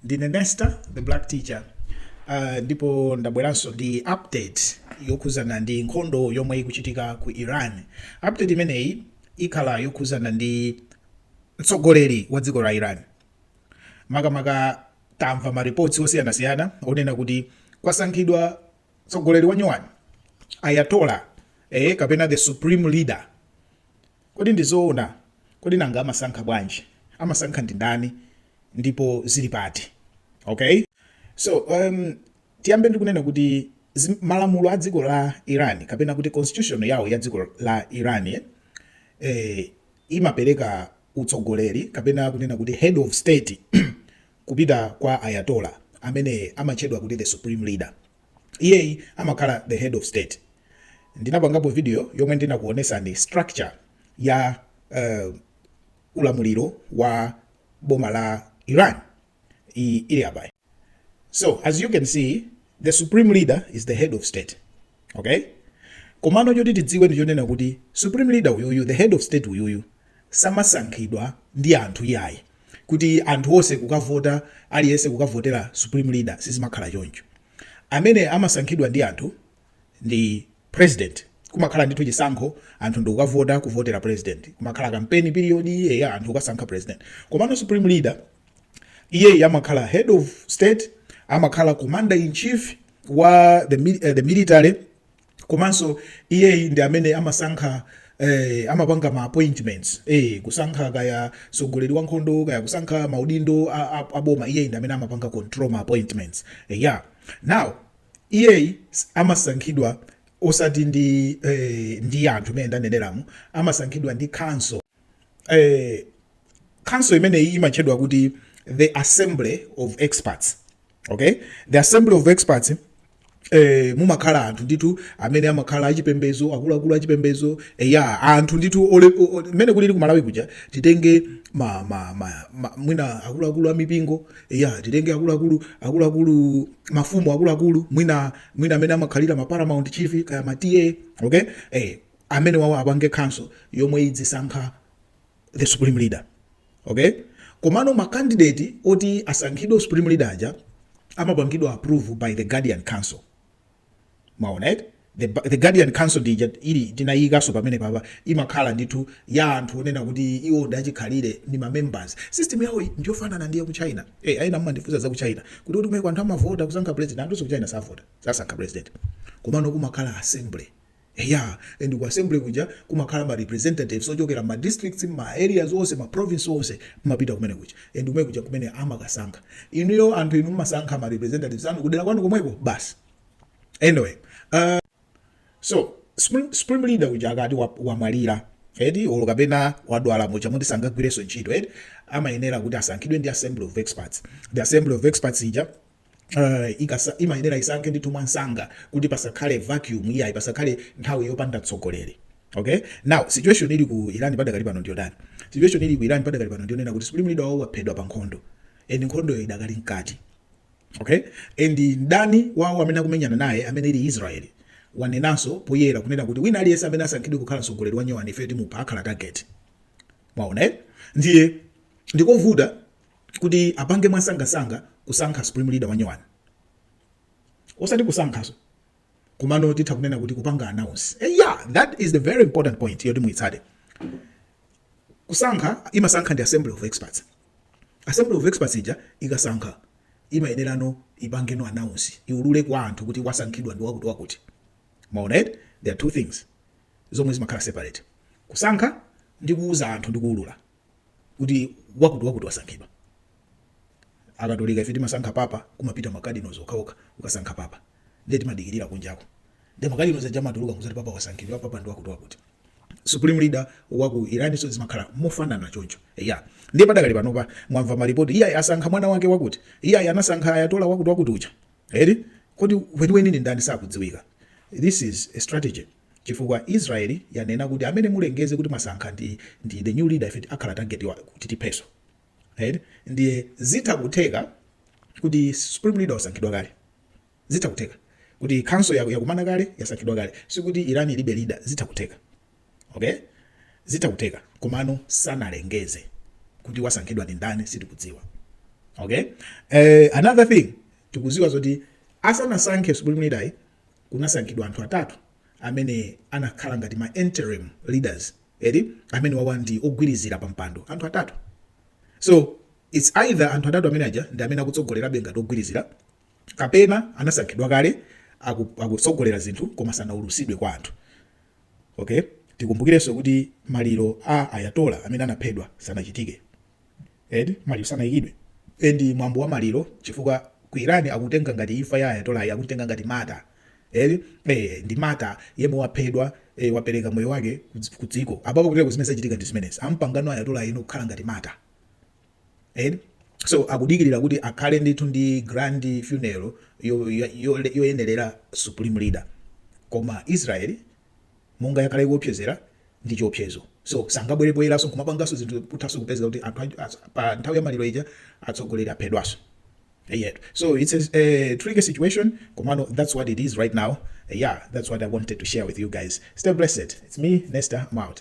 ndine nesta the black teacher uh, ndipo ndabweranso ndi update yokhuzana ndi nkhondo yomwe ikuchitika ku iran update imeneyi ikhala yokhuzana ndi mtsogoleri wa dziko la iran makamaka tamva maripotsi osiyanasiyana onena kuti kwasankhidwa tsogoleri wanyuwani ayatollah e, eh, kapena the supreme leader kodi ndizoona kodi nanga amasankha bwanji amasankha ndi ndani ndipo zili pati okay so um, tiyambe ndikunena kuti malamulo a dziko la iran kapena kuti constitution yawo ya dziko la iran eh, eh imapereka utsogoleri kapena kunena kuti head of state kupita kwa Ayatollah amene amatchedwa kuti the supreme leader. Iyeyi amakhala the head of state. Ndinapangapo video yomwe ndinakuonesani structure ya uh, ulamuliro wa boma la Iran. iyi ili apai so as you can see the supreme leader is the head of state okay komano choti tidziwe ndi chonena kuti supreme leader uyuyu the head of state uyuyu samasankhidwa ndi anthu iyayi kuti anthu onse kukavota aliyense kukavotera supreme leader sizimakhala choncho amene amasankhidwa ndi anthu ndi president kumakhala ndithu chisankho anthu ndikukavota kuvotera president kumakhala campaign period iyeya anthu kukasankha president komano supreme leader iyeyi amakhala head of state amakhala commander in chief wa the, uh, the military komanso iyeyi ndi amene amasankha eh, amapanga ma appointments eh, kusankha kaya mtsogoleri wa nkhondo kaya kusankha maudindo aboma iye ndi amene amapanga control ma appointments eh, yeah. now iyeyi amasankhidwa osati ndi eh, ndi anthu mmene ndaneneramu amasankhidwa ndi council eh, council imeneyi imatchedwa kuti the assembly of experts okay the assembly of experts eh, mumakhala anthu ndithu amene amakhala achipembezo akuluakulu achipembezo eh, ya anthu ndithu mmene kulili kumalawi kuja titenge ma, ma, ma, ma, mwina akuluakulu amipingo Eya, titenge akuluakulu, akuluakulu, mafumu akuluakulu, mwina mwina amene amakhalira ma paramount chief kaya ma TA, okay? Eh, amenewawo apange council yomwe idzisankha the supreme leader. Okay? Komano ma candidate oti asankhidwe supreme leader aja amapangidwa approve by the guardian council. mwaona eti the, the guardian council dija ili tinayiyikanso pamene papa imakhala ndithu ya anthu onena kuti iwo ndi achikhalire ndi mamembers system yawo ndiyofanana ndi yaku china hey, eh, ena mumandifunsa za ku china kuti kuti kumeneko anthu amavota kusankha president anthu ku china savota sasankha president komano kumakhala assembly Eya, and ku assembly kuja kumakhala ma representatives ochokera mma districts, mma areas onse, ma province onse, amapita kumene kuja and kumene kuja nkumene amakasankha. Inuyo anthu inu mmasankha ma representatives anu kudera kwanu komweko basi. Anyway, uh, so supreme, supreme leader uja akati wamwalira wa eti olo kapena wadwala muja muti sangagwirenso ntchito eti amayenera kuti asankhidwe ndi assembly of experts. The assembly of experts ija Uh, ikasa, imayenera isankhe ndithu mwansanga kuti pasakhale vacuum iyayi pasakhale nthawi yopanda mtsogoleri okay now situation ili ku Iran padakali pano ndi yotani situation ili ku Iran padakali pano ndi yonena kuti supreme leader wawo waphedwa pa nkhondo and nkhondoyo idakali mkati okay and mdani wawo amene akumenyana naye amene ali Israel wanenanso poyera kunena kuti wina aliyense amene asankhidwe kukhala mtsogoleri wanyowani ife timupha akhala target mwaona eh? ndiye ndikovuta kuti apange mwansangansanga kusankha supreme leader wanyowani osati kusankhaso komano titha kunena kuti kupanga announce eh, yeah that is the very important point yoti muitsate kusankha imasankha ndi assembly of experts assembly of experts ija ikasankha imayenerano ipangeno announce iulule kwa anthu kuti wasankhidwa ndi wakuti wakuti mwaona eti there are two things zomwe zimakhala separate kusankha ndi kuuza anthu ndi kuulula kuti wakuti wakuti wasankhidwa akatolika ife timasankha papa kumapita makadinals okhaokha kukasankha papa nde timadikirira kunjako nde makadinals aja amatuluka kuzati papa wasankhidwa papa ndi wakuti wakuti supreme leader wa ku iranso zimakhala mofanana choncho ya ndiye padakali panopa mwamva malipoti iyayi asankha mwana wake wakuti iyayi anasankha ayatollah wakuti wakuti uja eti kodi weniweni ndi ndani sakudziwika this is a strategy chifukwa Israel yanena kuti amene mulengeze kuti mwasankha ndi ndi the new leader ife akhala target wa kuti tipheso eti ndiye zitha kutheka kuti supreme leader wasankhidwa kale zitha kutheka kuti council ija yakumana kale yasankhidwa kale sikuti Iran ilibe leader zitha kutheka okay zitha kutheka komano sanalengeze kuti wasankhidwa ndi ndani sitikudziwa okay eh, another thing tikuziwa zoti asanasankhe supreme leader kunasankhidwa anthu atatu amene anakhala ngati ma interim leaders eti amene wawa ndi ogwirizira pa mpando anthu atatu so it's either anthu atatu amene aja ndi amene akutsogolerabe ngati ogwirizira kapena anasankhidwa kale akutsogolera zinthu koma sanaulusidwe kwa anthu Ok, tikumbukirenso kuti maliro a Ayatollah amene anaphedwa sanachitike eti, maliro sanaikidwe and mwambo wa maliro chifukwa ku Iran akutenga ngati imfa ya Ayatollah yi akuitenga ngati martyr eti, eh ndi martyr yemwe waphedwa eh wapereka moyo wake ku dziko, apapo kutereko zimene zachitika ndi zimenezi, amupanga Ayatollah uyu kukhala ngati martyr. eti so akudikirira kuti akhale ndithu ndi grand funeral yo- yo- yo- yoyenerera supreme leader koma israeli monga yakhala ikuopsezera ndi chiopsezo so sangabwerebweranso kumapanganso zinthu kuthanso kupezeka kuti anthu anji- as- pa nthawi ya maliro ija atsogoleri aphedwanso eti so it's a, a tricky situation komano that's what it is right now yeah that's what i wanted to share with you guys stay blessed it's me nesta i'm out